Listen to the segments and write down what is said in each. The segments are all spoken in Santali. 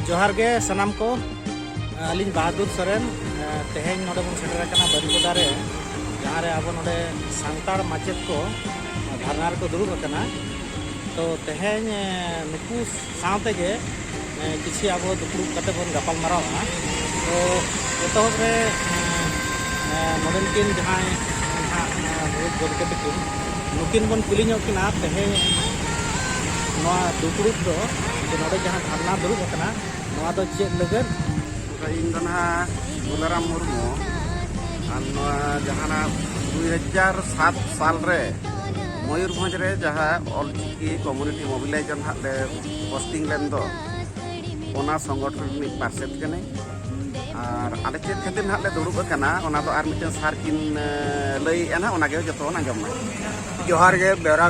ᱡᱚᱦᱟᱨ ᱜᱮ ᱥᱟᱱᱟᱢ ᱠᱚ ᱟᱹᱞᱤᱧ ᱵᱟᱦᱟᱫᱩᱨ ᱥᱚᱨᱮᱱ ᱛᱮᱦᱮᱧ ᱱᱚᱰᱮ ᱵᱚᱱ ᱥᱮᱴᱮᱨ ᱟᱠᱟᱱᱟ ᱵᱟᱹᱨᱤᱯᱟᱫᱟ ᱨᱮ ᱡᱟᱦᱟᱸ ᱨᱮ ᱟᱵᱚ ᱱᱚᱰᱮ ᱥᱟᱱᱛᱟᱲ ᱢᱟᱪᱮᱫ ᱠᱚ ᱫᱷᱟᱨᱱᱟ ᱨᱮᱠᱚ ᱫᱩᱲᱩᱵ ᱟᱠᱟᱱᱟ ᱛᱚ ᱛᱮᱦᱮᱧ ᱱᱩᱠᱩ ᱥᱟᱶ ᱛᱮᱜᱮ ᱠᱤᱪᱷᱩ ᱟᱵᱚ ᱫᱩᱯᱲᱩᱵ ᱠᱟᱛᱮ ᱵᱚᱱ ᱜᱟᱯᱟᱞ ᱢᱟᱨᱟᱣᱟ ᱛᱚ ᱮᱛᱚᱦᱚᱵ ᱨᱮ ᱱᱚᱰᱮᱱ ᱠᱤᱱ ᱡᱟᱦᱟᱸᱭ ᱱᱟᱦᱟᱜ ᱢᱩᱬᱩᱛ ᱜᱚᱢᱠᱮ ᱛᱟᱹᱠᱤᱱ ᱱᱩᱠᱤᱱ ᱵᱚᱱ ᱠᱩᱞᱤ ᱧᱚᱜ ᱠᱤᱱᱟ ᱛᱮᱦᱮᱧ ᱱᱚᱣᱟ ᱫᱩᱯᱲᱩᱵ ᱫᱚ ᱡᱮ ᱱᱚᱰᱮ ᱡᱟᱦᱟᱸ ᱫᱷᱟᱨᱱᱟ ᱫᱩᱲᱩᱵ ᱟᱠᱟᱱᱟ ᱱᱚᱣᱟ ᱫᱚ ᱪᱮᱫ ᱞᱟᱹᱜᱤᱫ ᱤᱧ ᱫᱚ ᱱᱟᱦᱟᱜ ᱵᱚᱞᱟᱨᱟᱢ ᱢᱩᱨᱢᱩ ᱟᱨ ᱱᱚᱣᱟ ᱡᱟᱦᱟᱱᱟᱜ ᱫᱩᱭ ᱦᱟᱡᱟᱨ ᱥᱟᱛ ᱥᱟᱞ ᱨᱮ ᱢᱚᱭᱩᱨᱵᱷᱚᱸᱡᱽ ᱨᱮ ᱡᱟᱦᱟᱸ ᱚᱞᱪᱤᱠᱤ ᱠᱚᱢᱩᱱᱤᱴᱤ ᱢᱳᱵᱤᱞᱟᱭᱤᱡᱮᱥᱚᱱ ᱦᱟᱸᱜ ᱞᱮ ᱯᱳᱥᱴᱤᱝ ᱞᱮᱱ ᱫᱚ ᱚᱱᱟ ᱥᱚᱝᱜᱚᱴᱷᱚᱱ ᱨᱤᱱᱤᱡ ᱯᱟᱨᱥᱮᱛ ᱠᱟᱹᱱᱟᱹᱧ ᱟᱨ ᱟᱞᱮ ᱪᱮᱫ ᱠᱷᱟᱹᱛᱤᱨ ᱱᱟᱦᱟᱜ ᱞᱮ ᱫᱩᱲᱩᱵ ᱟᱠᱟᱱᱟ ᱚᱱᱟ ᱫᱚ ᱟᱨ ᱢᱤᱫᱴᱮᱱ ᱥᱟᱨ ᱠᱤᱱ ᱞᱟᱹᱭᱮᱫᱼᱟ ᱱᱟᱦᱟᱜ ᱚᱱᱟᱜᱮ ᱡᱚᱛᱚ ᱵᱚᱱ ᱟᱸᱡᱚᱢ ᱢᱟ ᱡᱚᱦᱟᱨ ᱜᱮ ᱵᱮᱣᱨᱟ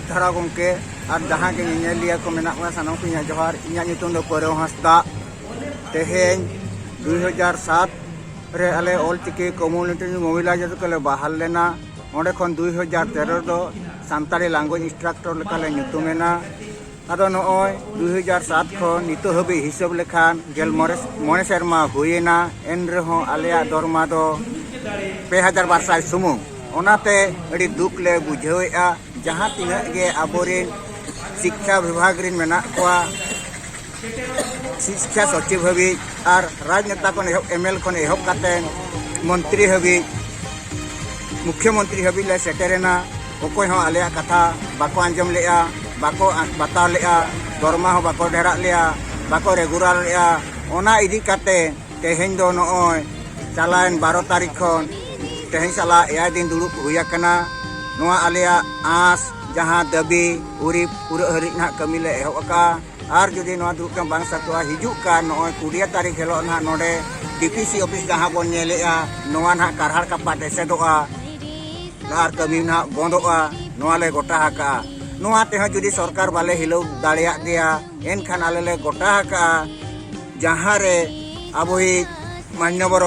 ᱫᱷᱟᱨᱟ ᱜᱚᱢᱠᱮ ᱟᱨ ᱡᱟᱦᱟᱸ ᱜᱮ ᱧᱮᱧᱮᱞᱤᱭᱟᱹ ᱠᱚ ᱢᱮᱱᱟᱜ ᱵᱚᱱᱟ ᱥᱟᱱᱟᱢ ᱠᱚ ᱤᱧᱟᱹᱜ ᱡᱚᱦᱟᱨ ᱤᱧᱟᱹᱜ ᱧᱩᱛᱩᱢ ᱫᱚ ᱯᱟᱹᱨᱟᱹᱣ ᱦᱟᱸᱥᱫᱟ ᱛᱮᱦᱮᱧ ᱫᱩᱭ ᱦᱟᱡᱟᱨ ᱥᱟᱛ ᱨᱮ ᱟᱞᱮ ᱚᱞᱪᱤᱠᱤ ᱠᱚᱢᱩᱱᱤᱴᱤ ᱢᱳᱵᱤᱞᱟᱭᱡᱮᱥᱚᱱ ᱠᱚᱞᱮ ᱵᱟᱦᱟᱞ ᱞᱮᱱᱟ ᱚᱸᱰᱮ ᱠᱷᱚᱱ ᱫᱩᱭ ᱦᱟᱡᱟᱨ ᱛᱮᱨᱚ ᱨᱮᱫᱚ ᱥᱟᱱᱛᱟᱲᱤ ᱞᱟᱝᱜᱩᱭᱮᱡᱽ ᱤᱱᱥᱴᱨᱟᱠᱴᱚᱨ ᱞᱮᱠᱟᱞᱮ ᱧᱩᱛᱩᱢᱮᱱᱟ ᱟᱫᱚ ᱱᱚᱜᱼᱚᱭ ᱫᱩ ᱦᱟᱡᱟᱨ ᱥᱟᱛ ᱠᱷᱚᱱ ᱱᱤᱛᱚᱜ ᱦᱟᱹᱵᱤᱡ ᱦᱤᱥᱟᱹᱵ ᱞᱮᱠᱷᱟᱱ ᱜᱮᱞ ᱢᱚᱬᱮ ᱢᱚᱬᱮ ᱥᱮᱨᱢᱟ ᱦᱩᱭᱮᱱᱟ ᱮᱱ ᱨᱮᱦᱚᱸ ᱟᱞᱮᱭᱟᱜ ᱫᱚᱨᱢᱟ ᱫᱚ ᱯᱮ ᱦᱟᱡᱟᱨ ᱵᱟᱨ ᱥᱟᱭ ᱥᱩᱢᱩᱝ ᱚᱱᱟᱛᱮ ᱟᱹᱰᱤ ᱫᱩᱠ ᱞᱮ ᱵᱩᱡᱷᱟᱹᱣᱮᱫᱼᱟ ᱡᱟᱦᱟᱸ ᱛᱤᱱᱟᱹᱜ ᱜᱮ ᱟᱵᱚᱨᱮᱱ ᱥᱤᱠᱠᱷᱟ ᱵᱤᱵᱷᱟᱜᱽ ᱨᱮᱱ ᱢᱮᱱᱟᱜ ᱠᱚᱣᱟ ᱥᱤᱠᱠᱷᱟ ᱥᱚᱪᱤᱵᱽ ᱦᱟᱹᱵᱤᱡ ᱟᱨ ᱨᱟᱡᱽᱱᱮᱛᱟ ᱠᱷᱚᱱ ᱮᱦᱚᱵ ᱮᱢ ᱮᱞ ᱠᱷᱚᱱ ᱮᱦᱚᱵ ᱠᱟᱛᱮ ᱢᱚᱱᱛᱨᱤ ᱦᱟᱹᱵᱤᱡ ᱢᱩᱠᱷᱭᱚ ᱢᱚᱱᱛᱨᱤ ᱦᱟᱹᱵᱤᱡ ᱞᱮ ᱥᱮᱴᱮᱨᱮᱱᱟ ᱚᱠᱚᱭ ᱦᱚᱸ ᱟᱞᱮᱭᱟᱜ ᱠᱟᱛᱷᱟ ᱵᱟᱠᱚ ᱟᱸᱡᱚᱢ ᱞᱮᱜᱼᱟ ᱵᱟᱠᱚ ᱵᱟᱛᱟᱣ ᱞᱮᱜᱼᱟ ᱫᱚᱨᱢᱟ ᱦᱚᱸ ᱵᱟᱠᱚ ᱰᱷᱮᱨᱟᱜ ᱞᱮᱭᱟ ᱵᱟᱠᱚ ᱨᱮᱜᱩᱞᱟᱨ ᱞᱮᱜᱼᱟ ᱚᱱᱟ ᱤᱫᱤ ᱠᱟᱛᱮ ᱛᱮᱦᱮᱧ ᱫᱚ ᱱᱚᱜᱼᱚᱭ ᱪᱟᱞᱟᱣᱮᱱ ᱵᱟᱨᱚ ᱛᱟᱹᱨᱤᱠᱷ ᱠᱷᱚᱱ ᱛᱮᱦᱮᱧ ᱥᱟᱞᱟᱜ ᱮᱭᱟᱭ ᱫᱤᱱ ᱫᱩᱲᱩᱵ ᱦᱩᱭ ᱟᱠᱟᱱᱟ ᱱᱚᱣᱟ ᱟᱞᱮᱭᱟᱜ ᱟᱸᱥ ᱡᱟᱦᱟᱸ ᱫᱟᱹᱵᱤ ᱩᱨᱤᱵ ᱯᱩᱨᱟᱹᱜ ᱦᱟᱹᱨᱤᱡ ᱱᱟᱦᱟᱜ ᱠᱟᱹᱢᱤ ᱞᱮ ᱮᱦᱚᱵ ᱟᱠᱟᱜᱼᱟ ᱟᱨ ᱡᱩᱫᱤ ᱱᱚᱣᱟ ᱫᱩᱲᱩᱵ ᱴᱷᱟᱶ ᱵᱟᱝ ᱥᱟᱹᱛᱚᱜᱼᱟ ᱦᱤᱡᱩᱜ ᱠᱟᱱ ᱱᱚᱜᱼᱚᱭ ᱠᱩᱲᱤᱭᱟ ᱛᱟᱹᱨᱤᱠᱷ ᱦᱤᱞᱳᱜ ᱱᱟᱦᱟᱜ ᱱᱚᱰᱮ ᱰᱤᱯᱤᱥᱤ ᱚᱯᱷᱤᱥ ᱡᱟᱦᱟᱸ ᱵᱚᱱ ᱧᱮᱞᱮᱜᱼᱟ ᱱᱚᱣᱟ ᱱᱟᱦᱟᱜ ᱠᱟᱨᱦᱟᱲ ᱠᱟᱯᱟᱴ ᱮᱥᱮᱫᱚᱜᱼᱟ ᱟᱨ ᱠᱟᱹᱢᱤ ᱱᱟᱦᱟᱜ ᱵᱚᱱᱫᱚᱜᱼᱟ ᱱᱚᱣᱟ ᱞᱮ ᱜᱚᱴᱟ ᱟᱠᱟᱜᱼᱟ ᱱᱚᱣᱟ ᱛᱮᱦᱚᱸ ᱡᱩᱫᱤ ᱥᱚᱨᱠᱟᱨ ᱵᱟᱞᱮ ᱦᱤᱞᱟᱹᱣ ᱫᱟᱲᱮᱭᱟᱜ ᱜᱮᱭᱟ ᱮᱱᱠᱷᱟᱱ ᱟᱞᱮ ᱞᱮ ᱜᱚᱴᱟ ᱟᱠᱟᱜᱼᱟ ᱡᱟᱦᱟᱸ ᱨᱮ ᱟᱵᱚᱭᱤᱡ ᱢᱟᱱᱭᱚᱵᱚᱨ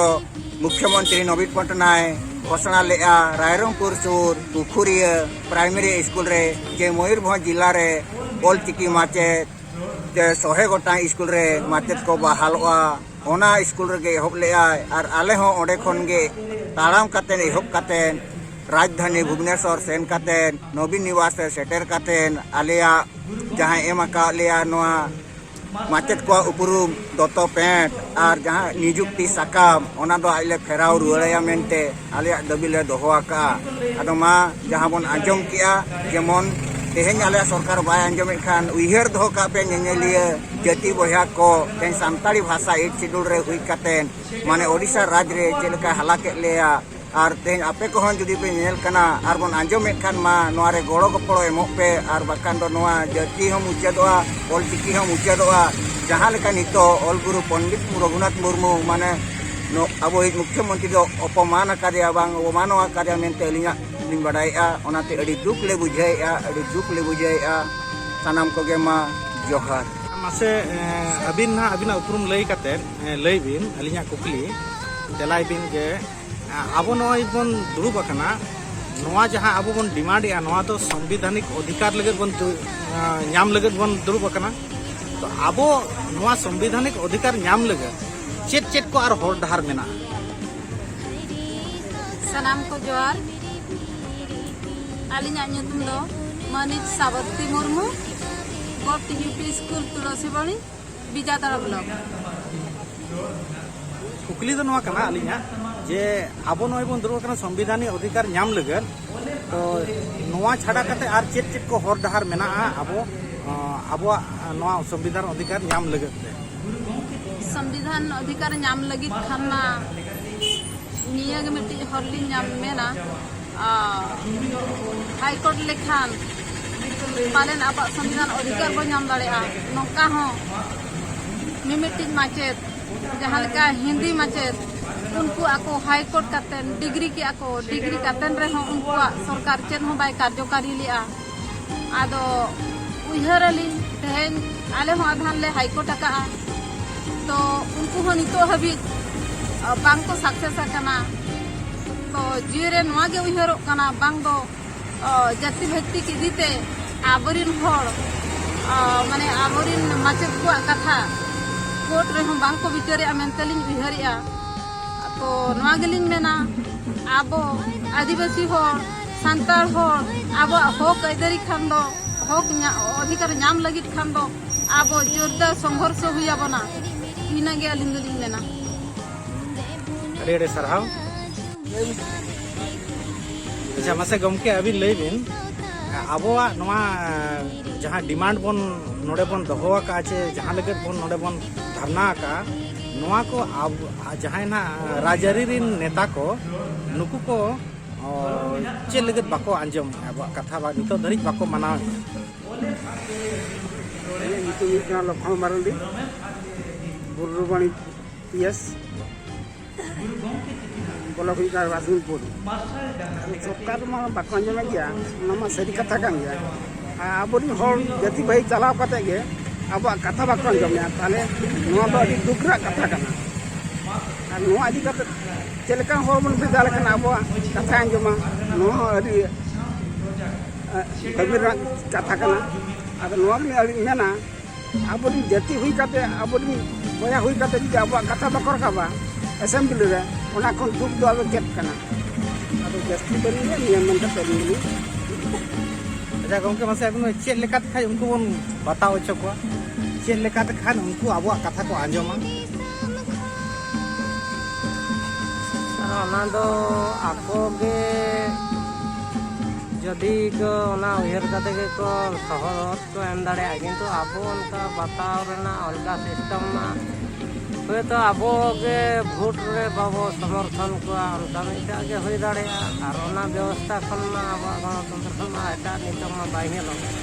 ᱢᱩᱠᱷᱭᱚᱢᱚᱱᱛᱨᱤ ᱱᱚᱵᱤᱱ ᱯᱚᱴᱱᱟᱭ ᱜᱷᱳᱥᱚᱱᱟ ᱞᱮᱜᱼᱟ ᱨᱟᱭᱨᱚᱝᱯᱩᱨ ᱥᱩᱨ ᱯᱩᱠᱷᱩᱨᱤᱭᱟᱹ ᱯᱨᱟᱭᱢᱟᱨᱤ ᱥᱠᱩᱞ ᱨᱮ ᱡᱮ ᱢᱚᱭᱩᱨᱵᱷᱚᱸᱡᱽ ᱡᱤᱞᱟ ᱨᱮ ᱚᱞ ᱪᱤᱠᱤ ᱢᱟᱪᱮᱫ ᱡᱮ ᱥᱚᱦᱮ ᱜᱚᱴᱟᱝ ᱥᱠᱩᱞ ᱨᱮ ᱢᱟᱪᱮᱫ ᱠᱚ ᱵᱟᱦᱟᱞᱚᱜᱼᱟ ᱚᱱᱟ ᱥᱠᱩᱞ ᱨᱮᱜᱮ ᱮᱦᱚᱵ ᱞᱮᱫᱟᱭ ᱟᱨ ᱟᱞᱮ ᱦᱚᱸ ᱚᱸᱰᱮ ᱠᱷᱚᱱ ᱜᱮ ᱛᱟᱲᱟᱢ ᱠᱟᱛᱮ ᱮᱦᱚᱵ ᱠᱟᱛᱮ ᱨᱟᱡᱽᱫᱷᱟᱱᱤ ᱵᱷᱩᱵᱽᱱᱮᱥᱚᱨ ᱥᱮᱱ ᱠᱟᱛᱮ ᱱᱚᱵᱤᱱ ᱱᱤᱵᱟᱥ ᱨᱮ ᱥᱮᱴᱮᱨ ᱠᱟᱛᱮ ᱟᱞᱮᱭᱟᱜ ᱡᱟᱦᱟᱸᱭ ᱮᱢ ᱟᱠᱟᱫ ᱞᱮᱭᱟ ᱱᱚᱣᱟ ᱢᱟᱪᱮᱫ ᱠᱚᱣᱟᱜ ᱩᱯᱨᱩᱢ ᱫᱚᱛᱚ ᱯᱮᱸᱴ ᱟᱨ ᱡᱟᱦᱟᱸ ᱱᱤᱡᱩᱠᱛᱤ ᱥᱟᱠᱟᱢ ᱚᱱᱟ ᱫᱚ ᱟᱡ ᱞᱮ ᱯᱷᱮᱨᱟᱣ ᱨᱩᱣᱟᱹᱲᱟᱭᱟ ᱢᱮᱱᱛᱮ ᱟᱞᱮᱭᱟᱜ ᱫᱟᱹᱵᱤ ᱞᱮ ᱫᱚᱦᱚ ᱟᱠᱟᱜᱼᱟ ᱟᱫᱚ ᱢᱟ ᱡᱟᱦᱟᱸ ᱵᱚᱱ ᱟᱸᱡᱚᱢ ᱠᱮᱜᱼᱟ ᱡᱮᱢᱚᱱ ᱛᱮᱦᱮᱧ ᱟᱞᱮᱭᱟᱜ ᱥᱚᱨᱠᱟᱨ ᱵᱟᱭ ᱟᱸᱡᱚᱢᱮᱫ ᱠᱷᱟᱱ ᱩᱭᱦᱟᱹᱨ ᱫᱚᱦᱚ ᱠᱟᱜ ᱯᱮ ᱧᱮᱧᱮᱞᱤᱭᱟᱹ ᱡᱟᱹᱛᱤ ᱵᱚᱭᱦᱟ ᱠᱚ ᱛᱮᱦᱮᱧ ᱥᱟᱱᱛᱟᱲᱤ ᱵᱷᱟᱥᱟ ᱮᱭᱤᱴ ᱥᱤᱰᱩᱞ ᱨᱮ ᱦᱩᱭ ᱠᱟᱛᱮ ᱢᱟᱱᱮ ᱳᱰᱤᱥᱟ ᱨᱟᱡᱽ ᱨᱮ ᱪᱮᱫ ᱞᱮᱠᱟᱭ ᱦᱟᱞᱟ ᱠᱮᱫ ᱞᱮᱭᱟ ᱟᱨ ᱛᱮᱦᱮᱧ ᱟᱯᱮ ᱠᱚᱦᱚᱸ ᱡᱩᱫᱤ ᱯᱮ ᱧᱮᱞ ᱠᱟᱱᱟ ᱟᱨ ᱵᱚᱱ ᱟᱸᱡᱚᱢᱮᱫ ᱠᱷᱟᱱ ᱢᱟ ᱱᱚᱣᱟ ᱨᱮ ᱜᱚᱲᱚ ᱜᱚᱯᱚᱲᱚ ᱮᱢᱚᱜ ᱯᱮ ᱟᱨ ᱵᱟᱠᱷᱟᱱ ᱫᱚ ᱱᱚᱣᱟ ᱡᱟᱹᱛᱤ ᱦᱚᱸ ᱢᱩᱪᱟᱹᱫᱚᱜᱼᱟ ᱚᱞ ᱪᱤᱠᱤ ᱦᱚᱸ ᱢᱩᱪᱟᱹᱫᱚᱜᱼᱟ ᱡᱟᱦᱟᱸ ᱞᱮᱠᱟ ᱱᱤᱛᱚᱜ ᱚᱞ ᱜᱩᱨᱩ ᱯᱚᱱᱰᱤᱛ ᱨᱚᱜᱷᱩᱱᱟᱛᱷ ᱢᱩᱨᱢᱩ ᱢᱟᱱᱮ ᱟᱵᱚᱭᱤᱡ ᱢᱩᱠᱷᱭᱚᱢᱚᱱᱛᱨᱤ ᱫᱚ ᱚᱯᱚᱢᱟᱱ ᱟᱠᱟᱫᱮᱭᱟ ᱵᱟᱝ ᱚᱵᱚᱢᱟᱱᱚ ᱟᱠᱟᱫᱮᱭᱟ ᱢᱮᱱᱛᱮ ᱟᱹᱞᱤᱧᱟᱜ ᱞᱤᱧ ᱵᱟᱰᱟᱭᱮᱜᱼᱟ ᱚᱱᱟᱛᱮ ᱟᱹᱰᱤ ᱫᱩᱠ ᱞᱮ ᱵᱩᱡᱷᱟᱹᱣᱮᱜᱼᱟ ᱟᱹᱰᱤ ᱫᱩᱠ ᱞᱮ ᱵᱩᱡᱷᱟᱹᱣᱮᱜᱼᱟ ᱥᱟᱱᱟᱢ ᱠᱚᱜᱮ ᱢᱟ ᱡᱚᱦᱟᱨ ᱢᱟᱥᱮ ᱟᱹᱵᱤᱱ ᱱᱟᱦᱟᱜ ᱟᱹᱵᱤᱱᱟᱜ ᱩᱯᱨᱩᱢ ᱞᱟᱹᱭ ᱠᱟᱛᱮᱫ ᱞᱟᱹᱭ ᱵᱤᱱ ᱟᱹᱞᱤᱧᱟᱜ ᱠᱩᱠᱞᱤ ᱛᱮᱞᱟᱭ ᱵᱤᱱ ᱡᱮ ᱟᱵᱚ ᱱᱚᱜᱼᱚᱭ ᱵᱚᱱ ᱫᱩᱲᱩᱵ ᱟᱠᱟᱱᱟ ᱱᱚᱣᱟ ᱡᱟᱦᱟᱸ ᱟᱵᱚ ᱵᱚᱱ ᱰᱤᱢᱟᱱᱰ ᱮᱜᱼᱟ ᱱᱚᱣᱟ ᱫᱚ ᱥᱚᱝᱵᱤᱫᱷᱟᱱᱤᱠ ᱚᱫᱷᱤᱠᱟᱨ ᱞᱟᱹᱜᱤᱫ ᱵᱚᱱ ᱧᱟᱢ ᱞᱟᱹᱜᱤᱫ ᱵᱚᱱ ᱫᱩᱲᱩᱵ ᱟᱠᱟᱱᱟ ᱛᱚ ᱟᱵᱚ ᱱᱚᱣᱟ ᱥᱚᱝᱵᱤᱫᱷᱟᱱᱤᱠ ᱚᱫᱷᱤᱠᱟᱨ ᱧᱟᱢ ᱞᱟᱹᱜᱤᱫ ᱪᱮᱫ ᱪᱮᱫ ᱠᱚ ᱟᱨ ᱦᱚᱨ ᱰᱟᱦᱟᱨ ᱢᱮᱱᱟᱜᱼᱟ ᱥᱟᱱᱟᱢ ᱠᱚ ᱡᱚᱦᱟᱨ ᱟᱹᱞᱤᱧᱟᱜ ᱧᱩᱛᱩᱢ ᱫᱚ ᱢᱟᱹᱱᱤᱡ ᱥᱟᱵᱚᱛᱤ ᱢᱩᱨᱢᱩ ᱜᱚᱴ UP school Tulasibari Bijatara block ᱠᱩᱠᱞᱤ ᱫᱚ ᱱᱚᱣᱟ ᱠᱟᱱᱟ ᱟᱹᱞᱤᱧᱟᱜ ᱡᱮ ᱟᱵᱚ ᱱᱚᱜᱼᱚᱭ ᱵᱚᱱ ᱫᱩᱲᱩᱵ ᱠᱟᱱᱟ ᱥᱚᱝᱵᱤᱫᱷᱟᱱᱤ ᱚᱫᱷᱤᱠᱟᱨ ᱧᱟᱢ ᱞᱟᱹᱜᱤᱫ ᱛᱚ ᱱᱚᱣᱟ ᱪᱷᱟᱰᱟ ᱠᱟᱛᱮ ᱟᱨ ᱪᱮᱫ ᱪᱮᱫ ᱠᱚ ᱦᱚᱨ ᱰᱟᱦᱟᱨ ᱢᱮᱱᱟᱜᱼᱟ ᱟᱵᱚ ᱟᱵᱚᱣᱟᱜ ᱱᱚᱣᱟ ᱥᱚᱝᱵᱤᱫᱷᱟᱱ ᱚᱫᱷᱤᱠᱟᱨ ᱧᱟᱢ ᱞᱟᱹᱜᱤᱫ ᱛᱮ ᱥᱚᱝᱵᱤᱫᱷᱟᱱ ᱚᱫᱷᱤᱠᱟᱨ ᱧᱟᱢ ᱞᱟᱹᱜᱤᱫ ᱠᱷᱟᱱ ᱢᱟ ᱱᱤᱭᱟᱹ ᱜᱮ ᱢᱤᱫᱴᱤᱡ ᱦᱚᱨ ᱞᱤᱧ ᱧᱟᱢ ᱢᱮᱱᱟ ᱦᱟᱭᱠᱳᱨᱴ ᱞᱮᱠᱷᱟᱱ ᱯᱟᱞᱮᱱ ᱟᱵᱚᱣᱟᱜ ᱥᱚᱝᱵᱤᱫᱷᱟᱱ ᱚᱫᱷᱤᱠᱟᱨ ᱵᱚᱱ ᱧᱟᱢ ᱫᱟᱲᱮᱭᱟᱜᱼᱟ ᱱᱚᱝᱠᱟ ᱦᱚᱸ ᱢᱤᱢᱤᱫᱴᱤᱡ ᱢᱟᱪᱮᱫ ᱡᱟᱦᱟᱸ ᱞᱮᱠᱟ ᱦᱤᱱᱫᱤ ᱢᱟᱪᱮᱫ ᱩᱱᱠᱩ ᱟᱠᱚ ᱦᱟᱭᱠᱳᱨᱴ ᱠᱟᱛᱮ ᱰᱤᱜᱽᱨᱤ ᱠᱮᱜᱼᱟ ᱠᱚ ᱰᱤᱜᱽᱨᱤ ᱠᱟᱛᱮ ᱨᱮᱦᱚᱸ ᱩᱱᱠᱩᱣᱟᱜ ᱥᱚᱨᱠᱟᱨ ᱪᱮᱫ ᱦᱚᱸ ᱵᱟᱭ ᱠᱟᱨᱡᱚᱠᱟᱨᱤ ᱞᱮᱜᱼᱟ ᱟᱫᱚ ᱩᱭᱦᱟᱹᱨ ᱟᱹᱞᱤᱧ ᱛᱮᱦᱮᱧ ᱟᱞᱮ ᱦᱚᱸ ᱟᱫᱷᱟᱱ ᱞᱮ ᱦᱟᱭᱠᱳᱨᱴ ᱟᱠᱟᱜᱼᱟ ᱛᱚ ᱩᱱᱠᱩ ᱦᱚᱸ ᱱᱤᱛᱚᱜ ᱦᱟᱹᱵᱤᱡ ᱵᱟᱝ ᱠᱚ ᱥᱟᱠᱥᱮᱥ ᱟᱠᱟᱱᱟ ᱛᱚ ᱡᱤᱣᱤ ᱨᱮ ᱱᱚᱣᱟ ᱜᱮ ᱩᱭᱦᱟᱹᱨᱚᱜ ᱠᱟᱱᱟ ᱵᱟᱝ ᱫᱚ ᱡᱟᱹᱛᱤ ᱵᱷᱟᱹᱛᱤᱠ ᱤᱫᱤ ᱛᱮ ᱟᱵᱚᱨᱤᱱ ᱦᱚᱲ ᱢᱟᱱᱮ ᱟᱵᱚᱨᱤᱱ ᱢᱟᱪᱮᱫ ᱠᱚᱣᱟᱜ ᱠᱟᱛᱷᱟ ᱠᱳᱨᱴ ᱨᱮᱦᱚᱸ ᱵᱟᱝ ᱠᱚ ᱵᱤᱪᱟᱹᱨᱮᱜᱼᱟ ᱢᱮᱱᱛᱮ ᱞᱤᱧ ᱩᱭᱦᱟᱹᱨᱮᱜᱼᱟ ᱛᱚ ᱱᱚᱣᱟ ᱜᱮᱞᱤᱧ ᱢᱮᱱᱟ ᱟᱵᱚ ᱟᱹᱫᱤᱵᱟᱹᱥᱤ ᱦᱚᱲ ᱥᱟᱱᱛᱟᱲ ᱦᱚᱲ ᱟᱵᱚᱣᱟᱜ ᱦᱚᱠ ᱟᱹᱭᱫᱟᱹᱨᱤ ᱠᱷᱟᱱ ᱫᱚ ᱦᱚᱠ ᱚᱫᱷᱤᱠᱟᱨ ᱧᱟᱢ ᱞᱟᱹᱜᱤᱫ ᱠᱷᱟᱱ ᱫᱚ ᱟᱵᱚ ᱡᱳᱨᱫᱟᱨ ᱥᱚᱝᱜᱷᱚᱨᱥᱚ ᱦᱩᱭ ᱟᱵᱚᱱᱟ ᱤᱱᱟᱹ ᱜᱮ ᱟᱹᱞᱤᱧ ᱫᱚᱞᱤᱧ ᱢᱮᱱᱟ ᱟᱹᱰᱤ ᱟᱹᱰᱤ ᱥᱟᱨᱦᱟᱣ ᱟᱪᱪᱷᱟ ᱢᱟᱥᱮ ᱜᱚᱢᱠᱮ ᱟᱹᱵᱤᱱ ᱞᱟᱹᱭ ᱵᱤᱱ ᱟᱵᱚᱣᱟᱜ ᱱᱚᱣᱟ ᱡᱟᱦᱟᱸ ᱰᱤᱢᱟᱱᱰ ᱵᱚᱱ ᱱᱚᱰᱮ ᱵᱚᱱ ᱫᱚᱦᱚ ᱟᱠᱟᱫᱼᱟ ᱪᱮ ᱡᱟᱦᱟᱸ ᱞᱟᱹᱜᱤᱫ ᱵᱚᱱ ᱱᱚᱰᱮ ᱵᱚᱱ ᱫᱷᱟᱨᱱᱟ ᱟᱠᱟᱫᱼᱟ ᱱᱚᱣᱟ ᱠᱚ ᱡᱟᱦᱟᱸᱭ ᱱᱟᱜ ᱨᱟᱡᱽᱟᱹᱨᱤ ᱨᱮᱱ ᱱᱮᱛᱟ ᱠᱚ ᱱᱩᱠᱩ ᱠᱚ ᱪᱮᱫ ᱞᱟᱹᱜᱤᱫ ᱵᱟᱠᱚ ᱟᱸᱡᱚᱢ ᱟᱵᱚᱣᱟᱜ ᱠᱟᱛᱷᱟ ᱵᱟ ᱱᱤᱛᱚᱜ ᱫᱷᱟᱹᱨᱤᱡ ᱵᱟᱠᱚ ᱢᱟᱱᱟᱣ ᱧᱩᱛᱩᱢ ᱦᱩᱭᱩᱜ ᱠᱟᱱᱟ ᱞᱚᱠᱷᱚᱱ ᱢᱟᱨᱟᱱᱰᱤ ᱵᱩᱨᱩᱵᱟᱹᱱᱤ ᱯᱤᱭᱮᱥ ᱵᱚᱞᱚᱠ ᱦᱩᱭᱩᱜ ᱠᱟᱱᱟ ᱨᱟᱥᱤᱱᱯᱩᱨ ᱥᱚᱨᱠᱟᱨ ᱢᱟ ᱵᱟᱠᱚ ᱟᱸᱡᱚᱢᱮᱫ ᱜᱮᱭᱟ ᱚᱱᱟ ᱢᱟ ᱥᱟᱹᱨᱤ ᱠᱟᱛᱷᱟ ᱠᱟᱱ ᱜᱮᱭᱟ ᱟᱵᱚᱨᱮᱱ ᱦᱚᱲ ᱡᱟᱹᱛᱤ ᱵᱷᱟᱹᱭ ᱪᱟᱞᱟᱣ ᱠᱟᱛᱮ ᱜᱮ ᱟᱵᱚᱣᱟᱜ ᱠᱟᱛᱷᱟ ᱵᱟᱠᱚ ᱟᱸᱡᱚᱢᱮᱫᱼᱟ ᱛᱟᱦᱚᱞᱮ ᱱᱚᱣᱟ ᱫᱚ ᱟᱹᱰᱤ ᱫᱩᱠ ᱨᱮᱭᱟᱜ ᱠᱟᱛᱷᱟ ᱠᱟᱱᱟ ᱟᱨ ᱱᱚᱣᱟ ᱤᱫᱤ ᱠᱟᱛᱮ ᱪᱮᱫ ᱞᱮᱠᱟ ᱦᱚᱲ ᱵᱚᱱ ᱵᱷᱮᱡᱟ ᱞᱮᱠᱷᱟᱱ ᱟᱵᱚᱣᱟᱜ ᱠᱟᱛᱷᱟ ᱟᱸᱡᱚᱢᱟ ᱱᱚᱣᱟ ᱦᱚᱸ ᱟᱹᱰᱤ ᱫᱟᱹᱵᱤ ᱨᱮᱱᱟᱜ ᱠᱟᱛᱷᱟ ᱠᱟᱱᱟ ᱟᱫᱚ ᱱᱚᱣᱟ ᱜᱮᱞᱤᱧ ᱟᱹᱞᱤᱧ ᱢᱮᱱᱟ ᱟᱵᱚᱨᱮᱱ ᱡᱟᱹᱛᱤ ᱦᱩᱭ ᱠᱟᱛᱮ ᱟᱵᱚᱨᱮᱱ ᱵᱚᱭᱦᱟ ᱦᱩᱭ ᱠᱟᱛᱮ ᱡᱩᱫᱤ ᱟᱵᱚᱣᱟᱜ ᱠᱟᱛᱷᱟ ᱵᱟᱠᱚ ᱨᱟᱠᱟᱵᱟ ᱮᱥᱮᱢᱵᱞᱤ ᱨᱮ ᱚᱱᱟ ᱠᱷᱚᱱ ᱫᱩᱠ ᱫᱚ ᱟᱫᱚ ᱪᱮᱫ ᱠᱟᱱᱟ ᱟᱫᱚ ᱡᱟᱹᱥᱛᱤ ᱵᱟᱹᱞᱤᱧ ᱞᱟᱹᱭᱟ ᱱᱤᱭᱟᱹ ᱢᱮᱱ ᱠᱟᱛᱮ ᱟᱹᱞᱤᱧ ᱞᱤᱧ ᱟᱪᱪᱷᱟ ᱜᱚᱢᱠᱮ ᱢᱟᱥᱮ ᱟᱵᱤᱱ ᱪᱮᱫ ᱞᱮᱠᱟᱛᱮ ᱠᱷᱟᱱ ᱩᱱᱠᱩ ᱵᱚᱱ ᱵᱟᱛᱟᱣ ᱦᱚᱪᱚ ᱠᱚᱣᱟ ᱪᱮᱫ ᱞᱮᱠᱟᱛᱮ ᱠᱷᱟᱱ ᱩᱱᱠᱩ ᱟᱵᱚᱣᱟᱜ ᱠᱟᱛᱷᱟ ᱠᱚ ᱟᱸᱡᱚᱢᱟ ᱟᱨ ᱚᱱᱟ ᱫᱚ ᱟᱠᱚ ᱜᱮ ᱡᱚᱫᱤ ᱠᱚ ᱚᱱᱟ ᱩᱭᱦᱟᱹᱨ ᱠᱟᱛᱮ ᱜᱮᱠᱚ ᱥᱚᱦᱚᱨ ᱠᱚ ᱮᱢ ᱫᱟᱲᱮᱭᱟᱜᱼᱟ ᱠᱤᱱᱛᱩ ᱟᱵᱚ ᱚᱱᱠᱟ ᱵᱟᱛᱟᱣ ᱨᱮᱱᱟᱜ ᱚᱞᱜᱟ ᱥᱤᱥᱴᱮᱢ ᱢᱟ ᱦᱳᱭᱛᱳ ᱟᱵᱚ ᱜᱮ ᱵᱷᱳᱴ ᱨᱮ ᱵᱟᱵᱚ ᱥᱚᱢᱚᱨᱛᱷᱚᱱ ᱠᱚᱣᱟ ᱚᱱᱠᱟ ᱢᱤᱫᱴᱟᱜ ᱜᱮ ᱦᱩᱭ ᱫᱟᱲᱮᱭᱟᱜᱼᱟ ᱟᱨ ᱚᱱᱟ ᱵᱮᱵᱚᱥᱛᱷᱟ ᱠᱷᱚᱱ ᱢᱟ ᱟᱵᱚᱣᱟᱜ ᱜᱚᱱᱚᱛᱚᱱᱛᱨᱚ ᱢᱟ ᱮᱴᱟᱜ ᱱᱤᱛᱚᱜ ᱢᱟ ᱵᱟᱭ ᱧᱮᱞᱚᱜ ᱠᱟᱱᱟ